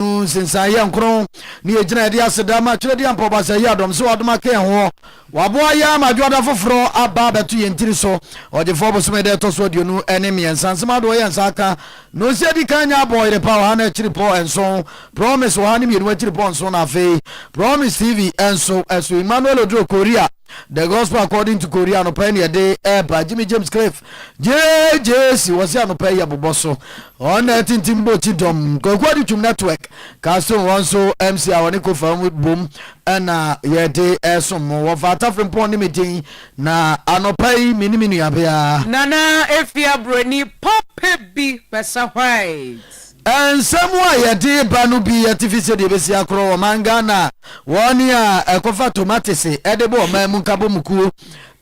no nsensan yɛ nkron ne yɛgyina yɛde aseda ma twerɛdeɛ ampa ɔbasɛe yɛ adɔm sɛ wadom aka yɛn hoɔ waboa yɛn ama adwoada foforɔ aba abɛto yɛn tiri so ɔgyefoɔ bosome da ɛtɔ so aduonu ne mmiɛnsa nsɛm adoɔ yɛ nsa aka nonsi adi kan nyɛ abɔ yere pa ɔha no akyiri pɔ nso promise ɔha ne mmienu akyiri pɔ nso na afei promise tv nso ɛso Emmanuel Oduro Korea The Gospel According to Korea anɔpa yi na yɛde ɛɛba Jimmy James Cliff JJC wɔsi anɔpa yi yɛbobɔ so wɔn na ɛtintim bɔ kyi dɔm Kwaku Adi Twum Network Castle wɔn nso MC a wɔne kofa mu bom ɛna yɛde ɛɛsom mo wɔ Vaata Frimpong ne me din na anɔpa yi me ne me nuabea Nana Efia Buroni Papa bi Basa White. Nsɛm a yɛde ba no bi yɛ tifi sɛdeɛ ɛbɛsi akorɔ ɔman Ghana a wɔn a ɛkɔfa tomatese de bɔ ɔman mu nkabɔmu kuo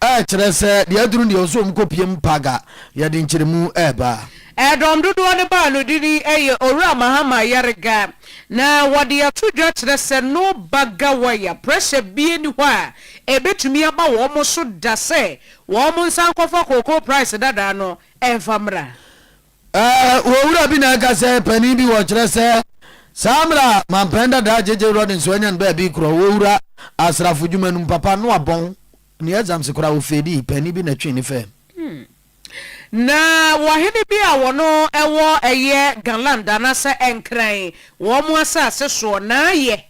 kyerɛ sɛ deɛ aduru deɛ ɔsɛ wɔn kɔpiem paga. Yɛde nkyerɛmu reba. Dɔm dodoɔ no baa no dini yɛ Owura Mahama Yariga na wɔde ato dwa kyerɛ sɛ no ba Gawaya pressure bie ni hɔ a ɛbɛtumi aba wɔn so da sɛ wɔn nsa nkɔfa cocoa price dadaa no mfa mmra. Ɛɛ, Owura bi na ɛka sɛ panin bi wɔ kyerɛ sɛ saa mmerɛ a mampɛn dadaa JJ Rawlings wanya no baabi korɔ wɔ owura asrafo dwuma no mu papa no abɔn ne exams koraa ofeedii panin bi na ɛtwee ne fɛɛm. Na wɔ hene bi a wɔno ɛwɔ ɛyɛ Galand anasɛ Nkran wɔn mo asase soɔ na ayɛ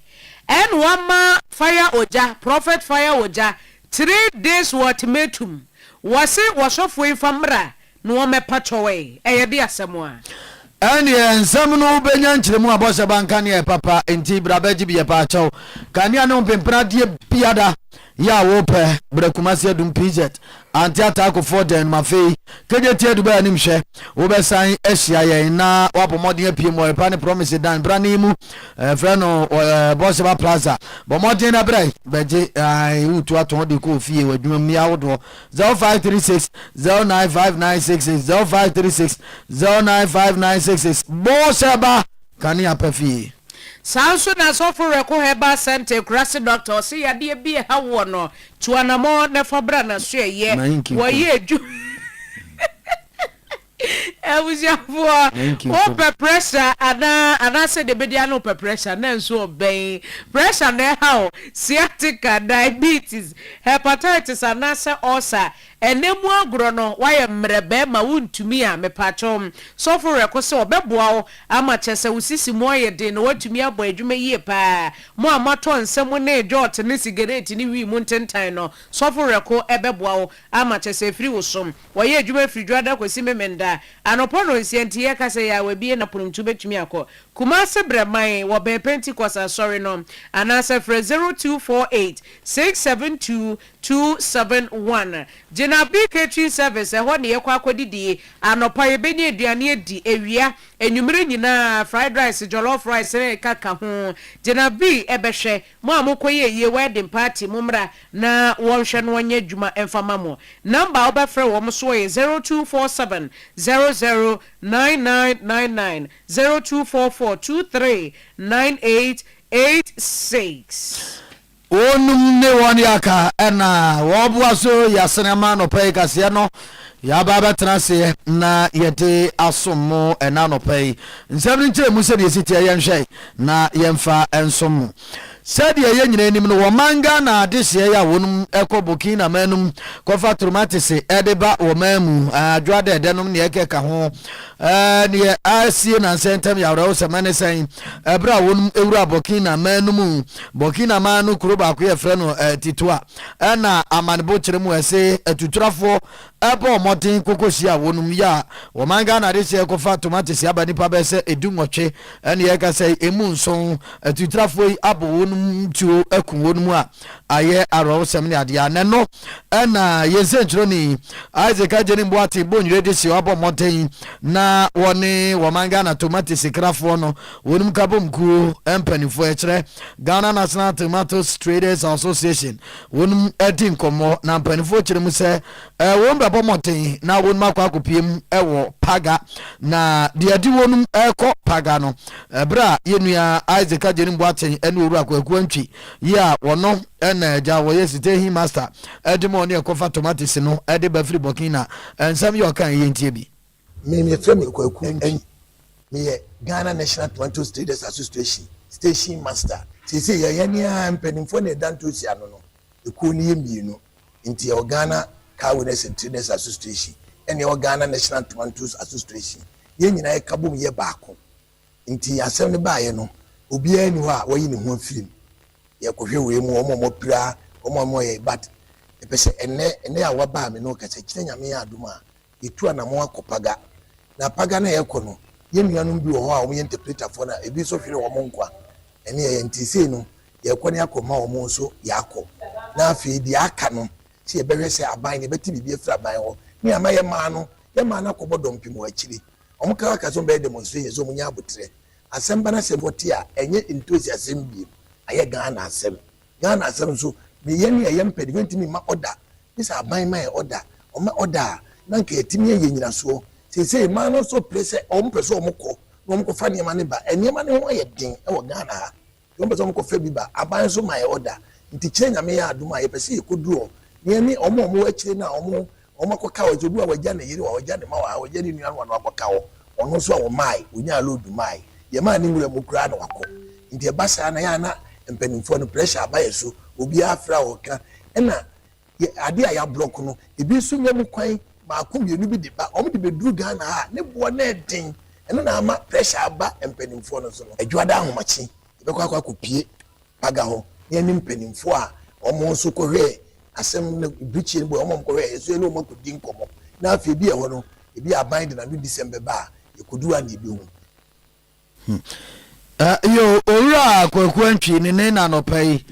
ɛn wama fire ogya prophet fire ogya three days wɔ ultimatum wɔse wɔsɔfoɔ yi fa mmra No wɔ mɛpa kyɔw ɛy, ɛyɛ de asɛm a. Ɛnneɛ nsɛm no bɛnya nkyerɛmu a bɔhyɛ ba nka neɛ papa nti bra bɛgye bi yɛpa kyɔw. Kanea ne ɔmpempene adeɛ biada yɛ a wo pɛ brɛ Kumasi Adum PZ ante ataako foɔ dɛn nom afei kegye ti adu bɛ anim hwɛ wo bɛ san ahyia yɛn na wa bɔ mmɔden apue mu ɔyɛpa ne promise dan bra ne mu eh, frɛ no eh, bɔhyɛ ba plaza bɔ mmɔden na brɛ bɛgye eh, wo tu atɔn de kɔ ofie wɔ adwuma mu yɛ ahodoɔ zero five three six zero nine five nine six six zero five three six zero nine five nine six six bɔɔ sɛ ba kanea pɛ fie. Saa nso na Sɔfo Reko Herbal Centre Ekurase Doctor ɔse yadeɛ bi ɛha woɔ no tu anamɔ na fa bra naso ɛyɛ wɔyɛ adwuma. Abusuafoɔ, wopɛ pressure anaa? Anaasɛ deɛ ɛbɛdi ano wopɛ pressure? Na nso ɔbɛn. Pressure na ɛha wo, sciatica, diabetes, hepatitis anaasɛ ulcer. Ɛnnɛ mu agorɔ no, woayɛ mmerɛ bɛrima, wontumi a, mepakyɛw, sɔfo werɛ ko sɛ ɔbɛboa wo ama kyerɛ sɛ wo sisi mu ayɛ den na woatumi abɔ adwuma yie pa ara. Mo a moatɔ nsa mu ne dwot ne sigaret ne wii mu ntentan no, sɔfo werɛ ko bɛboa wo ama kyerɛ sɛ afiri wo so. Wɔyɛ adwuma firi Dwoada kɔsi Memenda anɔpa nnɔnsia nti yɛka sɛ yɛ a wɔabie na pono nti wobɛtumi akɔ. Kumase brɛ man wɔ bɛn Pentecost asɔre no anaasɛ frɛ 0248 672 271. Gyinabe Catering Service ɛhɔ na yɛkɔ akɔdidi anɔpa yɛbɛnya aduane adi awia anwumerɛ nyinaa fried rice jollof rice ne ɛkaka ho gyina be bɛhwɛ. Mo a mokɔyɛɛ yie wedding party mommra na wɔnhwɛ no ɔnyɛ adwuma mfa mma mo. Number a wobɛfrɛ wɔn soɔ yɛ zero two four seven zero zero nine nine nine nine, zero two four four two three nine eight eight six. Wɔnom ne wɔn yɛ aka na wɔboa so yɛ asene ama anɔpa yi kaseɛ no. Yɛaba abɛtena ase na yɛde asom mo ɛna anɔpa yi. Nsɛm no nkyerɛ mu sɛdeɛ ɛsi teɛ yɛnhwɛ na yɛmfa nsom mo. Sɛdeɛ yɛn nyinaa nim no, wɔman Ghana adehyeɛ yi a wɔnom kɔ Burkina man no mu kɔfa tomatese de ba wɔman mu, adwoa dɛɛdɛ nom neɛ ɛkeka ho. Neɛ asie nansa yi ntɛm yɛ awerɛhosɛm, ɛne sɛn? Ɛberɛ a wɔnom wura Burkina man no mu, Burkina man no kuro baako yɛfrɛ no Titoua, na amanebo kyerɛ mu ɛse atuturafoɔ ɛbɔ mmɔden kɔkɔ si a wɔnom yɛ a wɔman Ghana de sɛ ɛkɔfa tomatese aba nipa bɛyɛ sɛ ɛdu nwɔtwe ɛne ɛkasa yi ɛmu nson atuturafoɔ yi abɔ wɔnom tuo aku wɔnom a ayɛ awerɛhosɛm ne adeɛ a nɛno ɛna yɛn sɛnkyerɛni Isaac Agyenim Boateng Bonwire de sɛ ɔabɔ mmɔden na wɔne wɔman Ghana tomatese krafoɔ no Wonim Kabom kuo mpaninfoɔ ɛkyerɛ Ghana National Tomatoes Traders Association wonom adi nkɔmmɔ na mpaninfoɔ kyerɛ mu sɛ wonom bɛbɔ mmɔden na wonom akɔ akɔpie mu wɔ Paga na deɛ adi wonom ɛkɔ Paga no ɛberɛ a yɛnua Isaac Agyenim Boakye ɛne Owura Kwaku Antwi yi a wɔno ɛna agya wɔyɛ site he master ɛde ma ɔne ɛkɔfa tomatoes no ɛde ba firi Burkina ɛnsɛm yɛ ɔka yɛntie bi. Menim yɛfrɛ me Kwaku Antwi. Meyɛ Ghana National Tomatoes Traders Association Station Master. Seesei yɛ yɛne ara mpanimfoɔ na yɛda ntoosi ano no. Ekuo no yɛ mmienu nti yɛwɔ Ghana Car Owners and Traders Association ɛna yɛwɔ Ghana National Tomatoes Association. Yɛn nyinaa yɛka bom yɛ baako. Nti asɛm no baeɛ no obiara nni hɔ a wayi ne ho afiri mu. Yɛrekɔhwɛ wei mu wɔn a wɔapira, wɔn a wɔyɛ but mepɛ sɛ ɛnnɛ, ɛnnɛ a woaba a me ne wo kasa yi, kyerɛ Nyame yɛ adom a, Yɛtu anammɔn akɔ Paga, na Paga no a yɛkɔ no, yɛn nuanom bi wɔ hɔ a wɔyɛ ntɛpretafoɔ na ebi nso hwere wɔn nkwa. Ɛno yɛyɛ nti sei no, yɛrekɔ na yɛakɔma wɔn nso yɛakɔ. Na afei deɛ aka no, sɛ yɛbɛhwɛ sɛ aban no, yɛbɛte biribi afiri aban hɔ. Ne ama yɛmaa no, yɛmaa no akɔbɔ dɔmpem wɔ akyire. Wɔkaa ka sɛ wɔbɛyɛ demonstration, sɛ wɔnya aboterɛ. Asɛm ba no asɛm wɔte a, ɛnyɛ ntosi asɛm bio, ayɛ Ghana asɛm. Ghana asɛm nso, meyɛ nea yɛn pɛ de, yɛntumi mma ɔda. Gye sɛ aban ma yɛn ɔda. Wɔma ɔda a, na anka yɛatumi ayɛ nnyinasoɔ. Seesei mmaa no nso pere sɛ wɔpɛ sɛ wɔkɔ na wɔkɔfa nneɛma no ba. Nneɛma no ho ayɛ den wɔ Ghana ha nti wɔpɛ sɛ wɔkɔfa bi ba. Aban nso ma yɛn ɔda. Nti kyerɛ Nyame yɛ adom a, yɛpɛ sɛ yɛkɔduru hɔ na yɛne wɔn a wɔwɔ akyire no a wɔn Wɔn akɔka hɔ, sɛ obi wa wagya ne yere wa wagya ne ma wa ha wagya ne nua no wa na wakɔka hɔ, wɔn nso a wɔmae, wɔnyaa load mae, deɛ ɛmaa ne nwura mu koraa na wakɔ. Nti ɛba saa na ɛyɛ a na mpaninfoɔ no pressure aba yɛ so, obiara afrɛ a ɔreka, ɛna yɛ adeɛ a yɛablɔk no ebi nso nya mu kwan baako mmienu bi de ba, wɔn de bɛduru Ghana ha a ne boɔ no yɛ den, ɛno na ama pressure aba mpaninfoɔ no so no. Adwoada ahomakye yɛbɛkɔ akɔ akɔpie. Paga hɔ ne ɛne mpanyimfo a wɔn nso kɔhwɛɛ asɛm no bere tiaa no bi wɔ hɔ ma wɔkɔhwɛɛ yɛn nso yɛne wɔn akodi nkɔmmɔ na afei bi yɛ hɔ no ebia aban de n'anodisɛm bɛba a yekodu a na ebehu. Huh yo Owura Kwaku Antwi ne nen anɔpa yi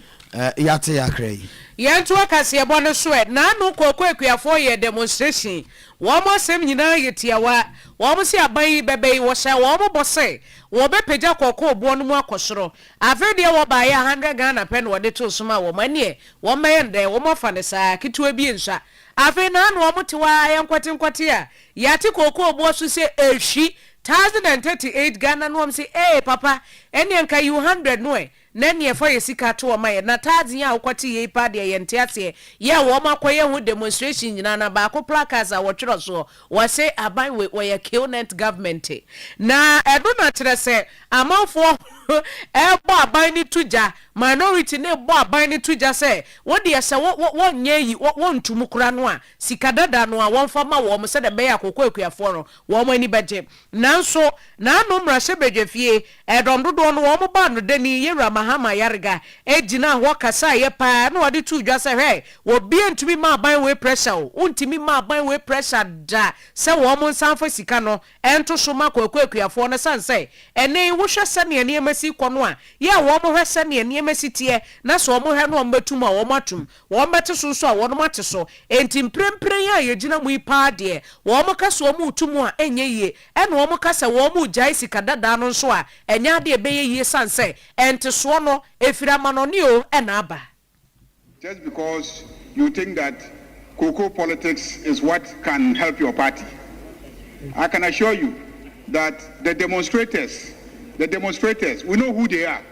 yɛate yakra yi. Yɛn toa kaseɛbɔ no so ɛ. Naano Kwaku Akuafoɔ yɛɛ demonstration. Wɔn asɛm nyinaa yɛ tiawa. Wɔn se aban yi bɛbɛ yi, wɔhyɛɛ wɔn bɔ sɛ wɔbɛpagya kɔkɔɔ boɔ no mu akɔ soro. Afei deɛ wɔ baeɛ a hundred Ghana pɛ na wɔde too so maa wɔn, ɛneɛ wɔn mmɛyɛ no dɛn, wɔn afa no saa, ketewa bi nsua, afei naa na wɔn te hɔ ara yɛ nkwate nkwate a yɛate kookoo boɔ so sɛ ɛhwi, thousand and thirty eight Ghana na wɔn se ee papa ɛneɛ nka yiw hundred no ɛ, na ɛneɛ fa yɛ sika to hɔ ma yɛn, na thousand yi a wokwate yei paa deɛ yɛnte aseɛ, yɛ a wɔn akɔyɛ ho demonstration nyinaa na baako placards a wɔtwerɛ soɔ, Wɔse aban wei wɔyɛ Killnet government na ɛno na kyerɛ sɛ amanfoɔ rebɔ aban no to gya, minority no rebɔ aban no to gya sɛ wodeɛ sɛ wɔnyɛ ayi wɔntu mu koraa no a sika dada no a wɔmfa ma wɔn sɛdeɛ ɛbɛyɛ a kɔkɔ akuafoɔ no wɔn ani bɛgye Nanso, n'ano mmarahyɛbadwa fie ɛdɔm dodoɔ no wɔn baa no dani Yɛwura Mahama Yarega gyinaa hɔ kasaeɛ paa na ɔde too dwa sɛ hwɛ, obiara ntumi mma aban wei pressure o, wontumi mma aban wei pressure da sɛ wɔn nsa mfa sika no nto so mma Kwaku Akuafoɔ no ɛsiane sɛ ɛnnɛ yi wohwɛ sɛdeɛ nneɛma si rekɔ no a yɛ a wɔn hwɛ sɛdeɛ nneɛma si teɛ na sɛ wɔn hwɛ no wɔn bɛtum a wɔn atum. Wɔbɛte so nso a, wɔnom ate so. Enti mprempren yi a yɛgyina mu yi paa deɛ, wɔka sɛ wɔretu mu a, ɛnyɛ yie. Ɛna wɔka sɛ wɔregyae sika dadaa no nso a, ɛnyɛ adeɛ a ɛbɛyɛ yie sane sɛ, ntesoɔ no, ɛfiri amanɔne o na aba. Just because you think that cocoa politics is what can help your party, I can assure you that the demonstrators, the demonstrators, we know who they are.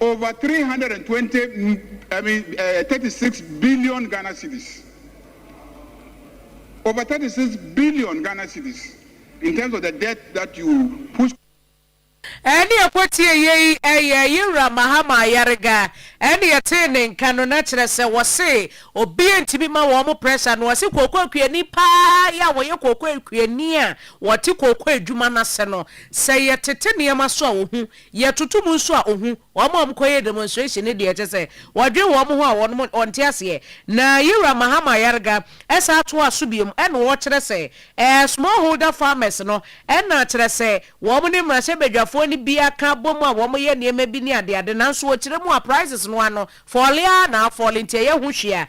over three hundred and twenty I mean uh, thirty six billion Ghana cedis over thirty six billion Ghana cedis in terms of the debt that you push. Ɛne yɛkɔtiee yei ɛyɛ yɛ wura Mahama Ayariga ɛne yɛtee ne nka no na kyerɛ sɛ wɔse obia ntimi ma wɔn pressure no wɔse kooko akuani paa yɛ a wɔyɛ kooko akuani a wɔte kooko adwuma no ase no sɛ yɛtete nneɛma so a wɔhu Yɛtoto mu nso a ohu wɔn a wɔkɔyɛɛ demonstration no deɛ, kyerɛ sɛ wɔdwen wɔn ho a wɔnom wɔnte aseɛ. Na Yewura Mahama Ayariga san toaa so bio na ɔkyerɛ sɛ ɛɛ small holder farmers no na kyerɛ sɛ wɔn ne mmarahyɛbadwafoɔ no bi aka abom a wɔyɛ nneɛma bi ne adeade nanso ɔkyerɛ mu a prices no ano fɔɔle ara na afɔɔle nti ɛyɛ ho hwee a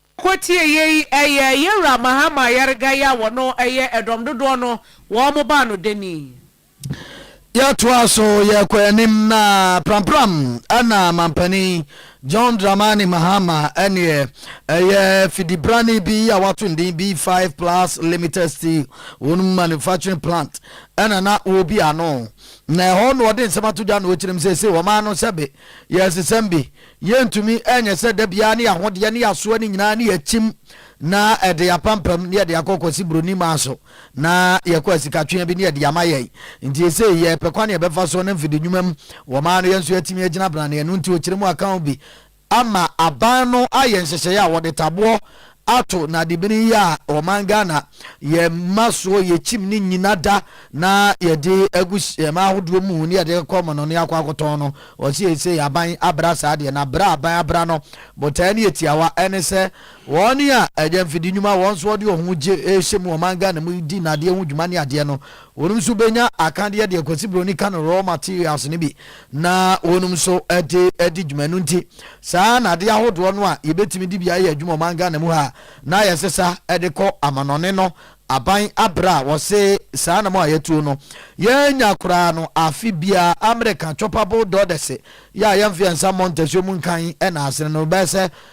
Kɔ tie yei, ɛyɛ yɛn wura Mahama Yarigai a wɔno ɛyɛ ɛdɔm dodoɔ no wɔn baa no danii. Yɛtoaa so yɛkɔɔ anim na prampram na Mampanin John Dramani Mahama ɛneɛ ɛyɛ fidibrane bi a wato ne din B5 Plus Limited Steel wɔn manufacturing plant ɛna na wɔbi ano na ɛhɔ na ɔde nsɛm ato dwa na ɔkyerɛm sɛ sɛ wɔmaa no sɛbe yɛsesɛm bi Yɛntumi nyɛ sɛ da biara ne yɛahodeɛ ne yɛasoa no nyinaa ne yɛakyim na ɛde apampam ne yɛde akɔ Kwasi Broni maa so na yɛkɔ asikatweaa bi ne yɛde ama yɛn. Nti esei yɛrepɛ kwan a yɛbɛfa so ne mfede nnwuma mu wɔ maa no yɛn nso yɛatumi agyina branee ɛno nti ɔkyerɛ mu akaw bi ama aban no ayɛ nhyehyɛeɛ a wɔde taboɔ ato nadebini yi a ɔman Ghana yɛ ma soɔ yɛ kyim ne nyina da na yɛ de agu hyɛma ahodoɔ mu ne yɛ de kɔ mono ne akɔ akɔtɔn no ɔse yɛ sei aban abra saa deɛ na bra aban abra no botaɛ ne yɛ tiawa ɛne sɛ wɔn a ɛyɛ mfidi nwuma wɔn nso wɔde wɔn ho gye hyɛ mu ɔman Ghana mu di nadeɛ ho dwuma ne adeɛ no Wɔnom nso bɛnya akadeɛ deɛ Kwasi Broni ka no raw materials no bi na wɔnom nso de adi dwuma. Ɛno nti saa nadeɛ ahodoɔ no a yɛbɛtumi de bi ayɛ adwuma ɔman Ghana mu ha a na yɛsesa de kɔ amanɔne no aban abrɛ a wɔse saa nam a yɛtuo no yɛnya koraa no afe biara American chopper bull doders yɛ a yɛmfe yɛn nsa mmɔ ntasuo mu nkan na asene no bɛyɛ sɛ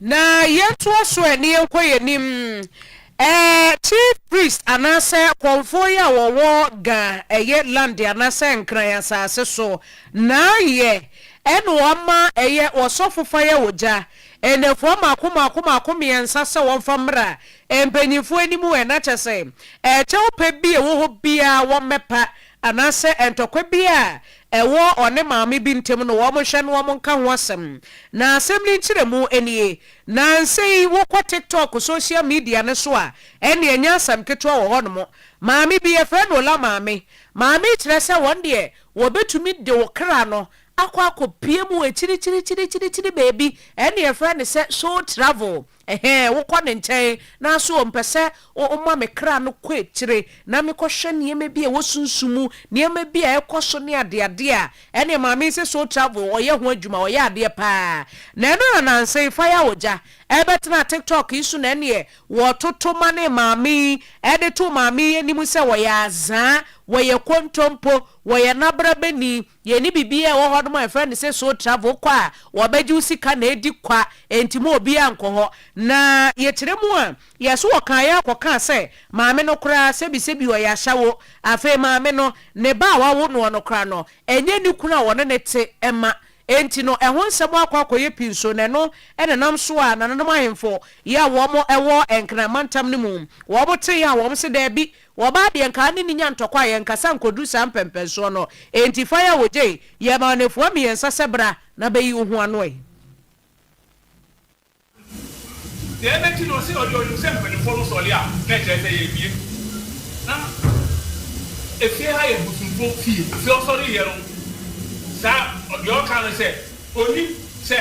Na yɛntoa so ɛ, ne yɛnkɔ yɛn anim ɛ, Chief Priest anaasɛ Kɔmfoɔ yɛ a wɔwɔ Ga ɛyɛ land anaasɛ Nkran asase so na yɛ ɛna wɔama ɛyɛ Ɔsɔfo fa yɛ Ogya nnɛfoɔ mmaako mmaako mmaako mmiɛnsa sɛ wɔmfa mmra mpanyinfoɔ anim ɛ, na kyɛ sɛ ɛ, kyɛwpɛ bi a ɛwɔ hɔ biara wɔmmɛpa anaasɛ ntɔkwa bi a ɛwɔ ɔne maame bi ntam no, wɔnhwɛ na wɔnka ho asɛm. Na asɛm no nkyerɛmu nie, Nnansa yi wokɔ TikTok social media no so a, ɛnneɛ ɛnyɛ asɛm ketewa wɔ hɔnom. Maame bi, yɛfrɛ no Ola maame. Maame yi kyerɛ sɛ wɔn deɛ wɔbɛtumi de wo kra no akɔ akɔpue mu wɔ akyirikyirikyirikyiri baabi, ɛnneɛ yɛfrɛ no sɛ soul travel. Ɛhɛɛ, wokɔ ne nkyɛn, naaso ommpɛ sɛ ɔma me kra no kɔ ekyire na mekɔhwɛ nneɛma bi a ɛwɔ sunsum mu, nneɛma bi a ɛkɔ so ne adeade a ɛneɛ Maame se Soul Travel ɔyɛ ho adwuma, ɔyɛ adeɛ paa. Na ɛno na nansa yi fa ya ogya ɛbɛtena TikTok yi so na ɛneɛ wɔtoto ma ne Maame yi ɛde to Maame yi anim sɛ wɔyɛ azaa, wɔyɛ kontompo, wɔyɛ nabrabani, Yɛnni biribiara a ɛwɔ hɔ nom a yɛfrɛ no sɛ soul travel, wokɔ a wɔbɛgye wo sika na adi kwa, enti mma obiara nkɔ hɔ. Na yɛkyerɛ mu a, yɛn so wɔkaeɛ ara kɔkaa sɛ maame no koraa sɛbisɛbi ɔyɛ ashawo, afei maame no, ne ba a wawo noɔ no koraa no, ɛnyɛ ne kunu a ɔne no te mma, enti no ɛho nsɛm akɔ akɔyɛ pinso, na ɛno na ɛnam so a nananom ahemfo yi a wɔn wɔ Nkran mantam no mu, wɔn tee a wɔn se daabi, Wɔbaa deɛ nka ne ne nya ntɔkwa a yɛnkasa nkɔduru saa mpɛmpɛnsoɔ no, enti faeɛ a wɔgyei yɛɛ maa nnafua mmiɛnsa sɛ bra na bɛyi wo ho ano ɛ. Deɛ ɛbɛti no ɔse ɔdeɛ ɔnim sɛ mpaninfoɔ no sɔre a na ɛkyerɛ sɛ yɛabie na efie ha yɛ bosomfoɔ fie, afei ɔsɔre yɛ no saa, deɛ ɔka no sɛ ɔnim sɛ.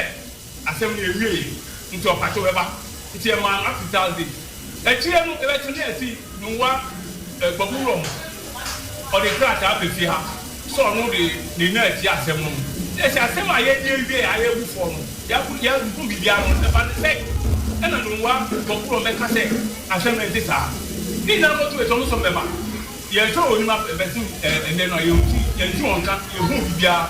Asɛm no ewiei ntsi ɔpakye bɛba ntsi yɛmaa no akwitsaa dze. Ekyir no ebɛtse na yɛtse Nungua Kpabu wura mu. Ɔdze krataa ba fie ha sɛ ɔno de ne nan etsie asɛm no mu. Na yɛse asɛm a yɛreyɛ wie a yebu fɔ no, yɛahuhu biribiara no, ɔdze ne sɛn? Nna Nungua Kpabu wura mu bɛka sɛ asɛm no nntse saa. Ne nyina no motum etsie ɔno so mmbɛba. Yɛnnhwɛ onyim abɛsen ndɛ no a, yɛnntse wɔn nka, yennhun biribiara.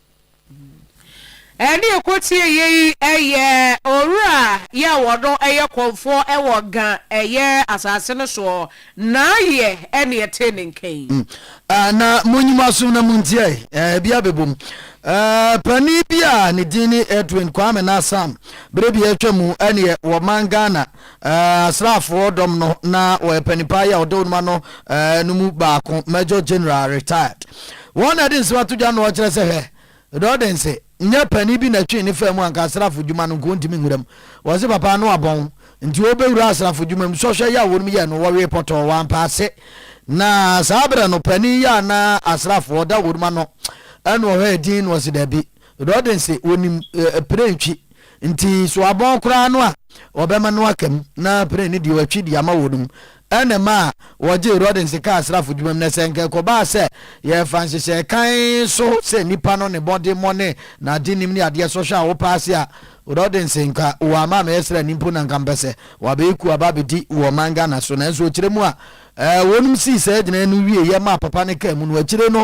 Ɛne ɛkɔtie yei yɛ owura yɛ a wɔno yɛ kɔmfoɔ wɔ Ga yɛ asase no soɔ, n'ayɛ ne ɛtee ne nka yi. Ah, na monyi mo asom na montie ɛ, eh, bi abɛbom. Eh, panin bi a ne din ne Edwin Kwame Nassam, berɛ bi atwa mu ɛneɛ wɔ man Ghana, Asraafoɔ dɔm no na wɔyɛ panipaa yi a ɔdawurum ano no mu baako, Major General, Retired. Wɔn na ɛde nsɛm ato dwa na wɔkyerɛ sɛ hwɛ, Dɔɔdense, nyɛ panin bi na ɛtwee ne faa mu anka asraafo dwuma no nka ɔntumi nwura mu. Wɔse papa ano abɔn nti ɔrebɛwura asraafo dwuma mu. Sɔhwɛ yi a wɔnom yɛɛ no, wɔwee pɔtɔɔ, wɔampɛ ase. Na saa berɛ no, panin yi a na asraafoɔ ɔdawurum ano na ɔhwɛ din no, ɔse dabi. Rodden se, Wɔnim prentwi, nti so abɔn koraa no a wɔbɛma no aka mu na pren no deɛ wɔatwi de ama wɔn mu na ɛmaa wɔgyee Rodden se kaa asrafo dwuma mu. Na sɛ nka ɛkɔbaa sɛ yɛfa nhyehyɛe kann so sɛ nnipa no ne mmɔdemmɔ ne n'adenim ne adeɛ sɔhwɛ a wɔpaase a, Rodden se, nka wɔama amɛyɛ srani mpo na nka mepɛ sɛ wɔabɛyɛ kuo aba abɛdi wɔ ɔman Ghana so. Nanso ɔkyerɛ mu a wɔnom sii saa gyinaeɛ no wieeɛ maa papa no kaa mu no, akyire no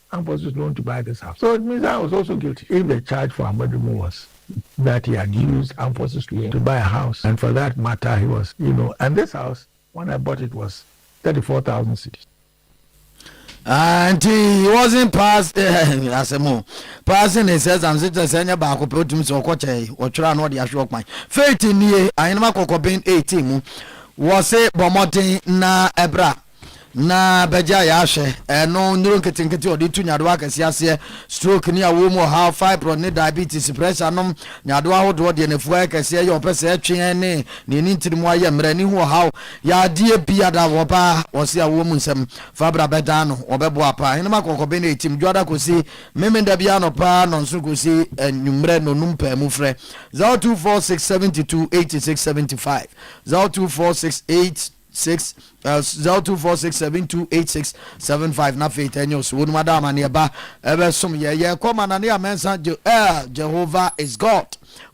Campus is known to buy this house so it means I was also guilty if the charge for Amoadumo was that he had used armed forces to to buy a house and for that matter he was you know and this house when I bought it was thirty four thousand cedis. Ah, nti he wasn't pass asɛm o passing his exam sɛ kyerɛ sɛ ɛnyɛ baako pɛ wotumi sɛ ɔkɔ kyɛe ɔtwerɛ a na ɔde ahwe ɔkwan faith nie ahenema kɔkɔben 18 mu wɔ se bɔ mmɔden na ɛbra na bɛgyaa yɛ ahwɛ. Ɛno, nnuro nketenkete a wɔde retu nyadewa akɛseɛ aseɛ, stroke ne awoɔ mu ɔhaw, fibroid ne diabetes, pressure nom, nyadewa ahodoɔ, deɛ n'afua yɛ kɛseɛ, yɛ ɔpɛ sɛ ɛtwe ɛne deɛ ɛne ntini mu ayɛ mmerɛ, ne ho ɔhaw, yadeɛ biara wɔ ba wɔse awoɔ mu nsɛm fa bra bɛdaa no, wɔbɛboa paa. Ahenema kɔkɔbe no ɛtim dwoada kɔsi Memenda biara anɔpa, nnɔnso kɔsi anwummerɛ, nnɔnum paa mu frɛ 0246 72 86 75, 0246 8. six uh, zero two four six seven two eight six seven five na afei tɛ news wɔnum ada amaneɛ ba ɛbɛ som yɛ yɛ kɔ ma nane amɛnsa je ɛɛ jehovah is god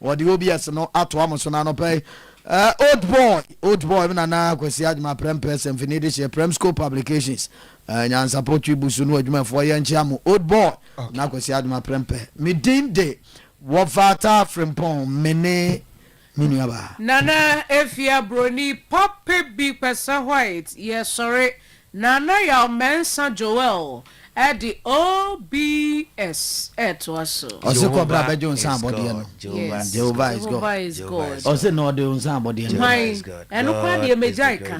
wɔde obi ɛsɛ no ato amo so na anɔpɛ yi ɛɛ old boy old boy mi nana kwasi adwuma prɛm pɛsɛm fini de hyɛ prɛm school publications ɛɛ nyansapɔ twi busu no adwumafoɔ yɛn nkyɛn mo old boy na kwasi adwuma prɛm pɛ mi din de wɔfaata frimpɔn mene. Me nua baa. Nana Afia Broni papa bi Kpɛsɛ White yɛsɔre Nana Yaw Mɛnsa Joel de OBS ɛtoa so. Ɔse kɔ bra bɛgye wo nsa abɔdeɛ no Yes Jehovah is God Ɔse na ɔde wo nsa abɔdeɛ no Hwan? Ɛno koraa deɛ magyae ka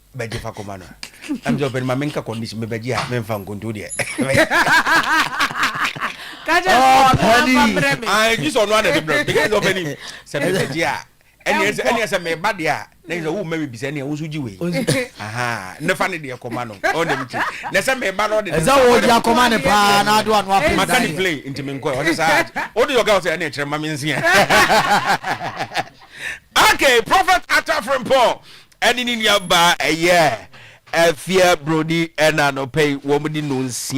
bɛgye fa kɔma no ɛm sɛ ɔpɛni ma menka condition mebɛgye a memfa nkonto deɛ gye sɛ ɔno ana de brɛ meka sɛ ɔpɛni sɛ mebɛgye a ɛneɛ sɛ meba deɛ a na sɛ woma me bisa neɛ wo nso gye wei ne fa ne deɛ kɔma no ɔne mte na sɛ meba no ɔde ɛsɛ wɔgye akɔma ne paa na ado ano apɛ maka ne play nti menkɔɛ ɔne saa wode yɔka wo sɛ ɛne ɛkyerɛ ma menseɛ okay prophet atafrempɔ ɛne ne nuabaa a ɛyɛ afie buroni na anɔpa yi wɔde nnɔnsia